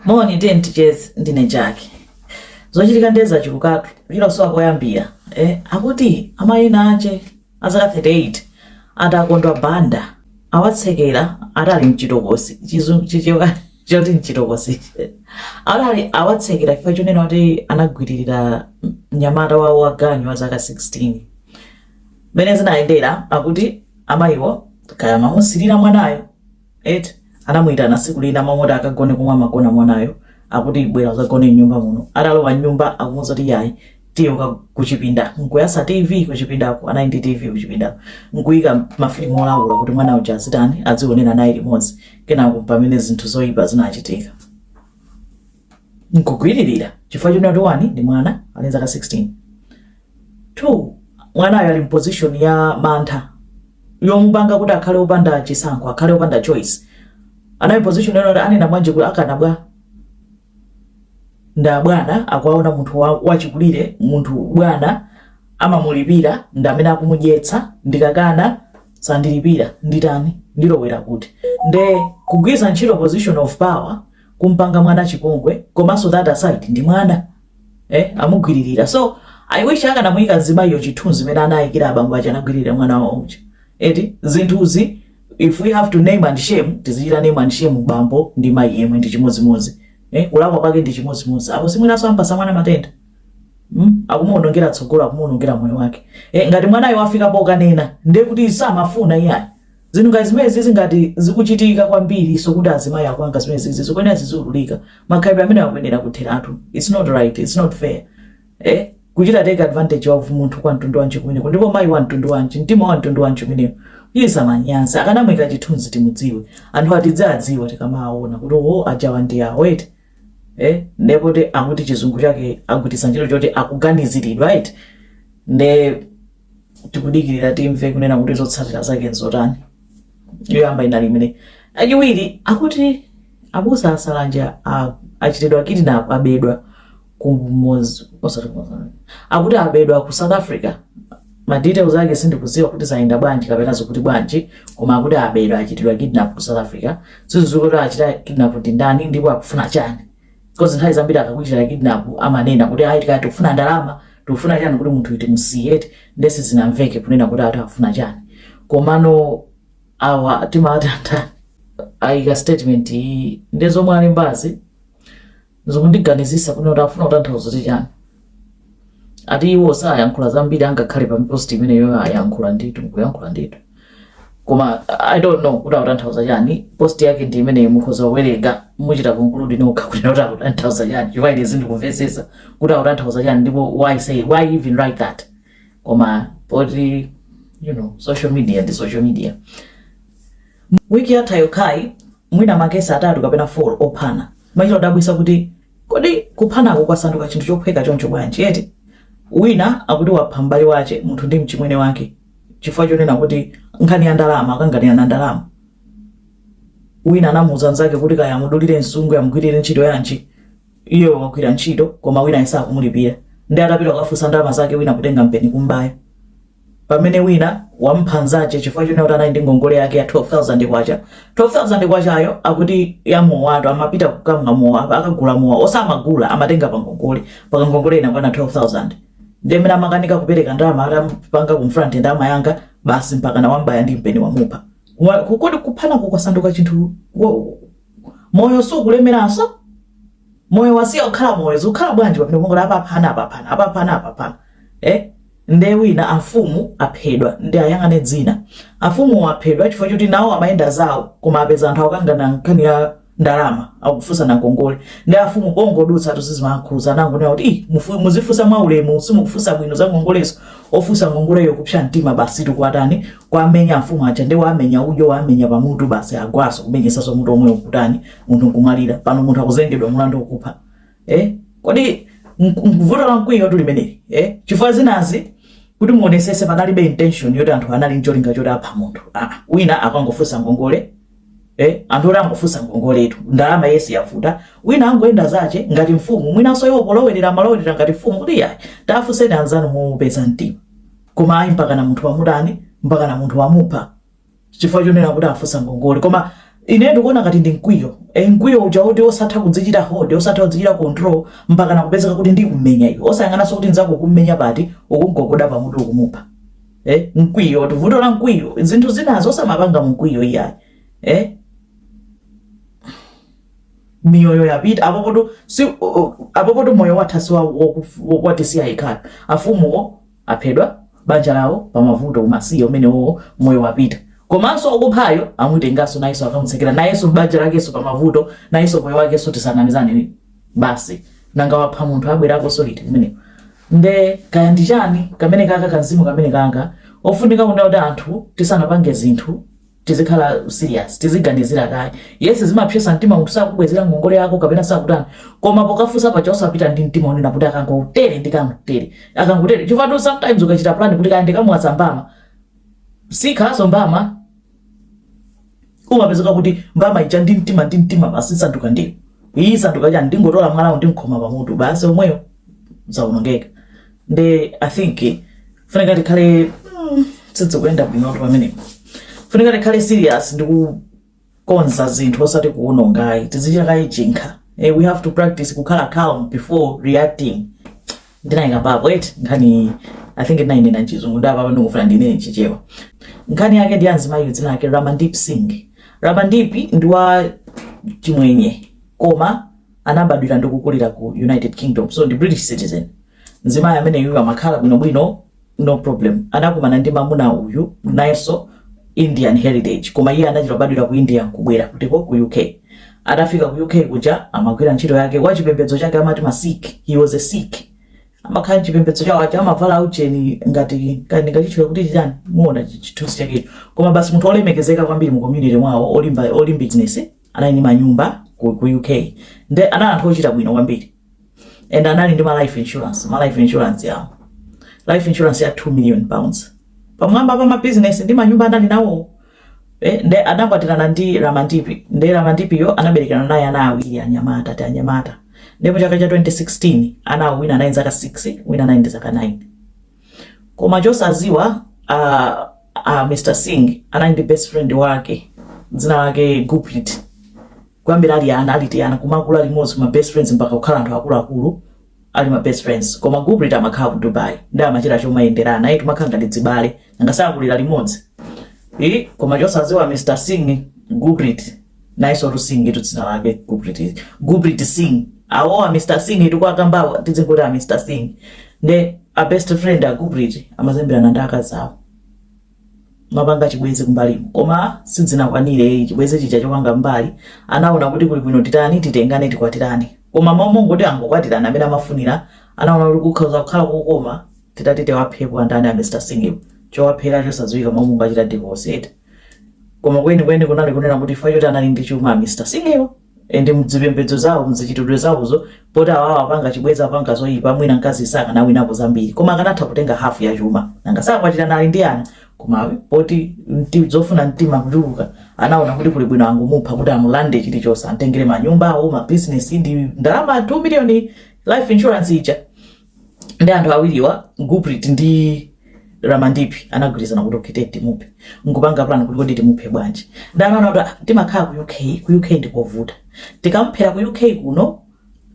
Moni, tiyeni ticheze. Ndine Jack. Zochitika ndiye zachulukatu, chilosowa poyambira. Eh, akuti amayi ena ache a zaka 38 ati a Takondwa Banda awatsekera ati ali mchitokosi chizu- chichewa choti mchitokosi ati ali- awatsekera chifukwa chonena kuti anagwiririra mnyamata wawo wa ganyu wa zaka 16 mmene zinayendera akuti amayiwo kaya amamusirira mwanayo Eti anamuitana siku lina amamuuza kuti akagone komwe amagona mwanayo akuti bwera uzagone mnyumba muno atalowa mnyumba akumuuza kuti yayi tiye kuchipinda nkuyasa tv kuchipindako anali ndi tv kuchipindako nkuyika mafilimu olawula kuti mwana uja azitani azionera naye limodzi kenako mpamene zinthu zoyipa zinachitika nkugwiririra chifukwa chonena kuti wani ndi mwana ali nzaka 16 two mwanayo ali mposition ya mantha yomupanga kuti akhale opanda chisankho akhale opanda choice anali position yonoti anena bwanji kuti akana bwanji ndi abwana akuwaona munthu wa- wachikulire munthu bwana amamulipira ndi ndi amene akumudyetsa ndikakana sandilipira nditani ndilowera kuti nde kugwiza ntchito position of power kumpanga mwana chipongwe komanso that aside ndi mwana eh amugwiririra so i wish akanamuyika mzimayiyo chithunzi mene anayikira abambo aja anagwiririra mwana wawo uja eti zinthuzi if we have to name and shame tizichita name and shame bambo ndi mayi yemwe ndi chimodzimodzi eh kulakwa kwake ndi chimodzimodzi apo simwinanso ampasa mwana matenda Mm? akumuonongera tsogolo akumuonongera moyo wake eh, ngati mwanayo wafika pokanena ndiye kuti samafuna iyayi Zinthu ngati zimenezizi ngati zikuchitika kwambiriso kuti azimayi akupanga zimenezizi zikuyenera zizululika. Makhalidwe amenewa akuyenera kutheratu. Its not right, its not fair. Eh? Kuchita take advantage of munthu kwa mtundu wanji kumeneko? Ndipo mayi wa mtundu wanji? Mtima wa mtundu wanji umenewo? Iye samanyazi. Akanamuika chithunzi timudziwe. Anthuwa tiziwadziwa tikamawaona kuti oho ajawa ndi awo eti. Eh? Nde poti akuti chizungu chake agwiritsa ntchito choti akuganiziridwa eti. Nde tikudikirira timve kunena kuti zotsatira zake nzotani. Yoyamba inali imene. Yachiwiri akuti abusa a Salanje achitidwa kidnap abedwa ku akuti abedwa ku South Africa ma details ake sindikuziwa kuti zayenda bwanji kapena zokuti bwanji koma akuti abedwa achitidwa kidnap ku South Africa sizikuziwika kuti achita kidnap ndi ndani ndipo akufuna chani Coz nthawi zambiri akakuchita kidnap amanena kuti ayi tikati tikufuna ndalama, tikufuna chani kuti munthuyu timusiye eti nde sizinamveke kunena kuti ati akufuna chani. Komano awa timawati andani ayika statement iyi nde zomwe alembazi zikundiganizisa kunena kuti akufuna kutanthauza kuti chani. ati iwo sayankhula zambiri ngakhale pa post imene iwo ayankhula ndithu kuyankhula ndithu koma i don't know kuti akutanthauza chani post yake ndi imeneyi mukhoza kuwerenga muchita conclude nokha kuti kuti akutanthauza chani chifukwa ine sindikumvetsetsa kuti akutanthauza chani ndipo why say why even write that koma poti you know social media ndi social media wiki yathayo kaya mwina makesi atatu kapena 4 ophana machita kudabwitsa kuti Kodi kuphanaku kwasanduka chinthu chophweka choncho bwanji eti? Wina akuti wapha m'bale wache munthu ndi mchimwene wake chifukwa chonena kuti nkhani ya ndalama, akanganirana ndalama. Wina anamuuza mnzake kuti kaya amudulire nsungwi amugwirire ntchito yanji, iyeyo wagwira ntchito koma winayo sakumulipira. Nde atapita kukafunsa ndalama zake wina kutenga mpeni kumbaya. pamene wina wamupha nzache chifukwa chonena kuti anali ndi ngongole yake ya 12000 kwacha 12000 kwachayo akuti ya mowa anthu amapita kukamwa mowa apa akagula mowa osamagula amatenga pa ngongole mpaka ngongole inakwana 12000 ndiye mene amakanika kupereka ndalama atamupanga confront ndalama yanga basi mpakana wambaya ndi mpeni wamupha Wa- kukodi kuphana kwasanduka chinthu wo- moyo sukulemeranso moyo wasiya kukhala moyo zikukhala bwanji pamene kungoti apaphana apaphana apaphana apaphana eh nde wina afumu aphedwa ndayang'ana dzina afumu aphedwa chifukwa choti nawo amayenda zawo koma apeza anthu akukangana nkhani ya ndalama akufunsana ngongole nde afumu pongodutsa atu sizimakhuza anangonena kuti "Ih, mufu- muzifunsa mwaulemu simukufunsa bwino za ngongolezo ofunsa ngongoleyo kupsa mtima basi nkuwatani kuwamenya afumu aja nde wamenya ujo wamenya pamutu basi agwaso kumenyesaso mutu omwe uja kutani munthu nkumalira pano munthu akuzengedwa mulandu okupha eh? kodi vuto la mkwiyotu limeneli eh? chifukwa zinazi kuti muonesese panalibe intention yoti anthu anali ncholinga choti apha munthu ah, wina akangofunsa ngongole eh? anthu oti angofunsa ngongoletu ndalama yesi yavuta wina angoyenda zache ngati mfumu mwinaso iwo polowerera amalowerera ngati mfumu kuti yayi tafunseni anzanu mofatsa mtima koma ayi mpakana munthu wamutani mpakana munthu wamupha chifukwa chonena kuti afunsa ngongole koma ine ndikuona ngati ndi mkwiyo e, mkwiyo uja woti osatha kudzichita hold osatha kudzichita control mpakana kupezeka kuti ndikummenya iwe osayang'ananso kuti nzako ukummenya pati ukungogoda pamutu ukumupha eh, mkwiyo ndi vuto la mkwiyo zinthu zinazo osamapanga mkwiyo iyayi eh? miyoyo yapita apopoto si apopoto moyo watha si wakuti siyayi kaya afumuwo aphedwa, banja lawo pamavuto umasiye umenewowo moyo wapita komanso okuphayo amutenganso nayenso akamutsekera nayenso banja lakenso pamavuto nayenso moyo wakenso tisanamizane ni basi nanga wapha munthu abwerakonso liti kumeneko nde kaya ndi chani kamene kaka kamzimu kameneka nanga ofunika kunena kuti anthu tisanapange zinthu tizikhala serious tiziganizira kaye yes zimapsetsa mtima munthu sakubwezera ngongole yako kapena sakutani koma pokafunsa paja osapita ndi mtima onena kuti akangotere ndikangotere akangotere chifukwa sometimes ukachita plan kuti kaya ndikamuwaza mbama sikhalaso mbama umapezeka kuti mbama ija ndi mtima ndi mtima basi sanduka ndiyo iyi sanduka chani ndingotola mwalawo ndimkhoma pamutu basi omweyo zaonongeka nde i think funika tikhale mm, sidzikuyenda bwinotu pamenepo ofunika tikhale serious ndi kukonza zinthu osati kuwononga ayi tizichita kaye chinkha eh, we have to practice kukhala calm before reacting ndinayikapapo eti nkhani i think ndinayinena chizungu nde pano ndikufuna ndinene chichewa nkhani yake ndi ya mzimayi dzina lake ramandip singh ramandip ndi wa chimwenye koma anabadwira ndi kukulira ku United Kingdom so ndi British citizen mzimayi ameneyuyu amakhala bwinobwino no problem anakumana ndi mamuna uyu nayenso Indian heritage koma iye anachita kubadwira ku India kubwera kuti ko ku UK atafika ku UK kuja amagwira ntchito yake wa chipembedzo chake amati ma Sikh he was a Sikh amakhala chipembedzo chawo aja amavala aucheni ngati kandi ngoyitchula kuti chitani muona chithunzi chakecho koma basi munthu olemekezeka kwambiri mu community mwawo olimba olimba business anali ndi manyumba ku, ku UK nde anali anthu ochita bwino kwambiri and anali ndi ma life insurance ma life insurance awo life insurance ya 2 million pounds pamwamba pa ma business ndi manyumba anali nawo eh, nde anakwatirana ndi Ramandipi nde Ramandipiyo anaberekana naye ana awiri anyamata tianyamata nde mu chaka cha 2016 anawo wina anali ndi zaka 6 wina anali ndi zaka 9 koma chosaziwa a a mr sing anali ndi best friend wake dzina lake guprit kuyambira ali ana ali tiana kumakula limodzi kuma best friends mpaka kukhala anthu akuluakulu ali ma best friends koma guprit amakhala ku dubai nde amachita chomayenderana ayi kumakhala ngati azibale nanga sakulira limodzi Eh, koma chosaziwa mr sing guprit nayeso ndi singtu dzina lake guprit guprit sing awowa a mr sing tikuwakambawa tidzingoti a mr sing nde a best friend a guprit amazemberana ndi akazi awo amapanga chibwezi kumbalimu koma sizinakwanire chibwezi chija chopanga kumbali anaona kuti kuli bwino titani titengane tikwatirane koma m'malo moti angokwatirana mmene amafunira anaona kuti kukhoza kukhala kokoma titati tiwaphepo andani a mr sing chowaphera chosadziwika m'malo mongochita divorce eti koma kwenikweni kunali kunena kuti chifukwa choti anali ndi chuma mr singiyo and mzipembedzo zawo mzikhalidwe zawozo poti awawo apanga chibwezi apanga zoyipa mwina mkazi sakanawinapo zambiri koma akanatha kutenga hafu ya chuma nanga sakwatirana ali ndi ana koma poti mti- zofuna mtima kuchuluka anaona kuti kuli bwino angomupha kuti amulande chilichonse amtengere manyumba awo mabizinesi ndi ndalama 2 miliyoni life insurance ija ndi anthu awiriwa guprit ndi ramandipi anagwirizana kuti okay tete timuphe nkupanga plan kuti kodi timuphe bwanji nde anaona kuti ah, timakhala ku uk ku uk ndikovuta tikamuphera ku uk kuno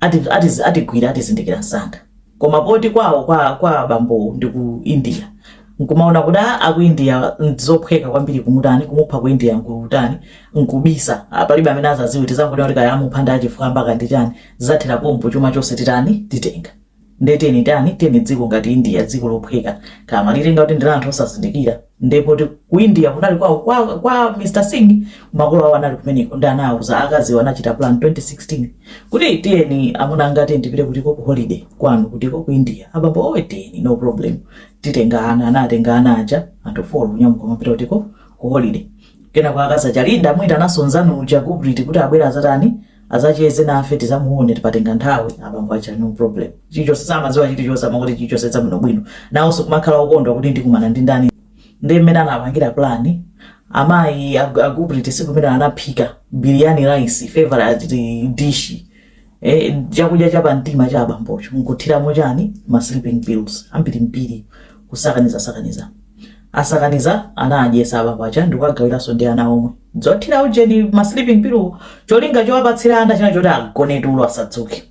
ati- ati- atigwira atizindikira msanga koma poti kwawo kwa, kwa bambowo ndi ku india nkumaona kuti ah, aku india ndizophweka kwambiri kumutani kumupha ku india nkutani nkubisa Ah, palibe amene azaziwe tizangonena kuti kaya amupha ndi achifwamba kandi chani zathera pompo chuma chonse titani titenga nde tiyeni tani tiyeni dziko ngati india dziko lophweka kaya amalitenga kuti ndi la anthu osazindikira nde poti ku india kunali kwa, kwa, kwa mr singh makolo awo anali kumeneko ndi anawuza akaziwo anachita plan 2016 kuti tiyeni amuna anga tiyeni tipite kutiko ku holiday kwanu kutiko ku india abambo owe tiyeni no problem titenga ana anatenga ana aja anthu folo kunyamuka kumapita kutiko ku holiday kenako akazi aja nde kumuitana nzawo uja guprit kuti abwera azatani Azacheze nafe tizamuone patenga nthawi abambo aja no problem chilichonse samaziwa chilichonse amangoti chilichonse chabwino bwino naonso kumakhala okondwa kuti ndikumana ndi ndani ndi mmene anapangira plan amayi ag- aguprit siku imene anaphika biryani rice favorite dish eh, chakudya cha pamtima cha abambocho nkuthiramo chani ma sleeping pills ambirimbiri kusakaniza sakaniza asakaniza anaadyesa abambo aja ndikuwagawiranso ndi ana omwe zothira ujeni ma sleeping pill cholinga chowapatsira ana china choti agone tulo asadzuke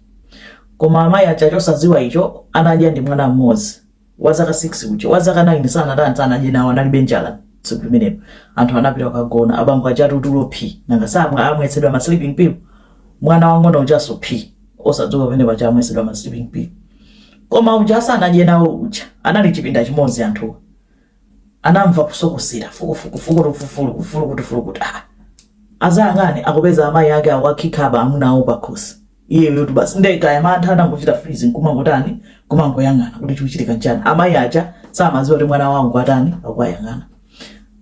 koma amayi aja chosadziwa icho anadya ndi mwana mmodzi wa zaka 6 uja wa zaka 9 sanatani sanadye nawo analibe njala tsiku limenelo anthu anapita kukagona abambo aja tulo phi nanga si amwa amwetsedwa ma sleeping pill mwana wang'ono ujanso phi osadzuka pamene paja amwetsedwa ma sleeping pill Koma uja sanadye nawo uja anali chipinda chimodzi anthuwa anamva kusokosera fukufuku fukutu fufuluku fulukutu fulukutu ah azayang'ane akupeza amayi ake akuwakhika amuna awo pakhosi iyeyotu basi nde kaya mantha anangochita freeze nkumangotani kumangoyang'ana kuti chikuchitika nchani amayi aja samadziwa kuti mwana wawo akutani akuwayang'ana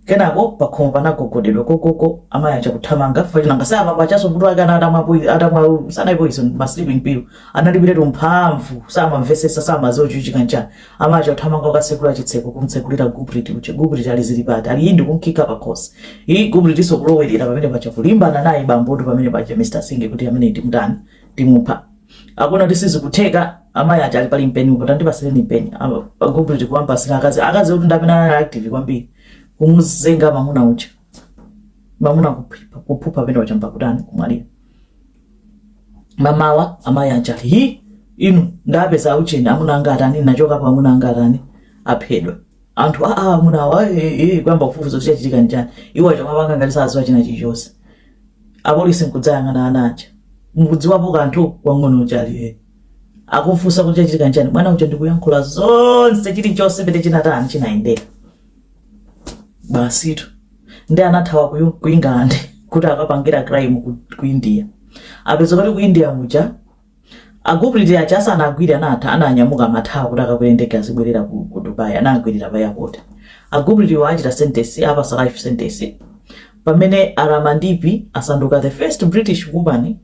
Kenako pakhomo panagogodedwa kokoko amayi aja kuthamanga chifukwa nanga samamva chanso mutu wake anali atamwa poison atamwa sanali poison ma sleeping pill analibiretu mphamvu samamvesesa samaziwa chikuchitika nchani amayi aja kuthamanga kukasekula chitseko kumtsekulira guprit uja guprit ali zili pati ali yindi kumkhika pakhosi iyi guprit nso kulowerera pamene paja kulimbana naye bambotu pamene paja Mr Singh kuti amene ndi mtani timupha akuona kuti sizikutheka amayi aja ali pali mpeni apo tandipasireni mpeni aguprit kuwapasira akazi akazi poti ndi amene anali active kwambiri kumuzinga mamuna uja mamuna kuphipha kuphupha pamene uja mpaka kutani kumwalira mamawa amayi aja ali hi inu ndapeza aujeni amuna anga atani nachokapo amuna anga atani aphedwa anthu aa amuna awa eh, eh, eh, kuyamba kufufuza kuti chachitika ndi chani iwo aja kumapanga ngati saziwa china chilichonse Apolisi nkudzayang'ana ana aja. Mukudziwapo kanthu? Wamng'ono uja ali eee. Akumufunsa kuti chachitika nchani. Mwana uja ndikuyankhula zonse chilichonse pete chinatani chinayendera. Basitu. Nde anathawa ku, ku England kuti akapangire crime ku, ku India. Apeza kuti ku India muja A Gurpreet aja asanagwidwe anatha ananyamuka amathawa kuti akakwere ndege azibwerera ku, ku Dubai anawagwirira pa airport. A Gurpreet-wo achita sentence apatsa life sentence. Pamene a Ramandeep asanduka the first British woman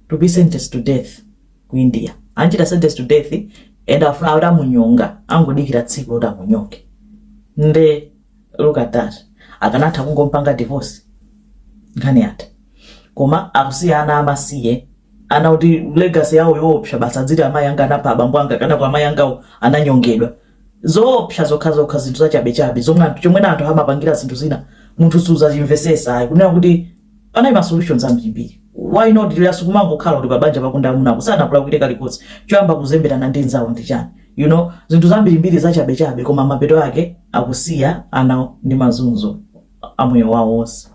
to be sentenced to death ku India. Anchita sentence to death and afuna atamunyonga angodikira tsiku loti amunyonge. Nde look at that akanatha kungompanga divorce nkhani yatha koma akusiya ana amasiye ana kuti legacy yawo yoopsa basi adziti amayi anga anapha abambo anga kenako amayi angawo ananyongedwa zoopsa zokhazokha zinthu zachabechabe zomwe anthu- chomwe anthu amapangira zinthu zina munthu suzachimvesesa ayi kunena kuti Panali ma solutions ambirimbiri why not lero sikumangokhala kuti pa banja pako ndi amuna ako sanakulakwire kalikonse choyamba kuzemberana ndi nzawo ndi chani you know zinthu zambirimbiri zachabe chabe koma mapeto ake akusiya anawo ndi mazunzo a moyo wawo wonse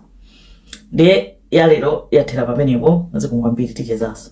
ndiye ya lero yathera pamenepo zikomo kwambiri tichezaso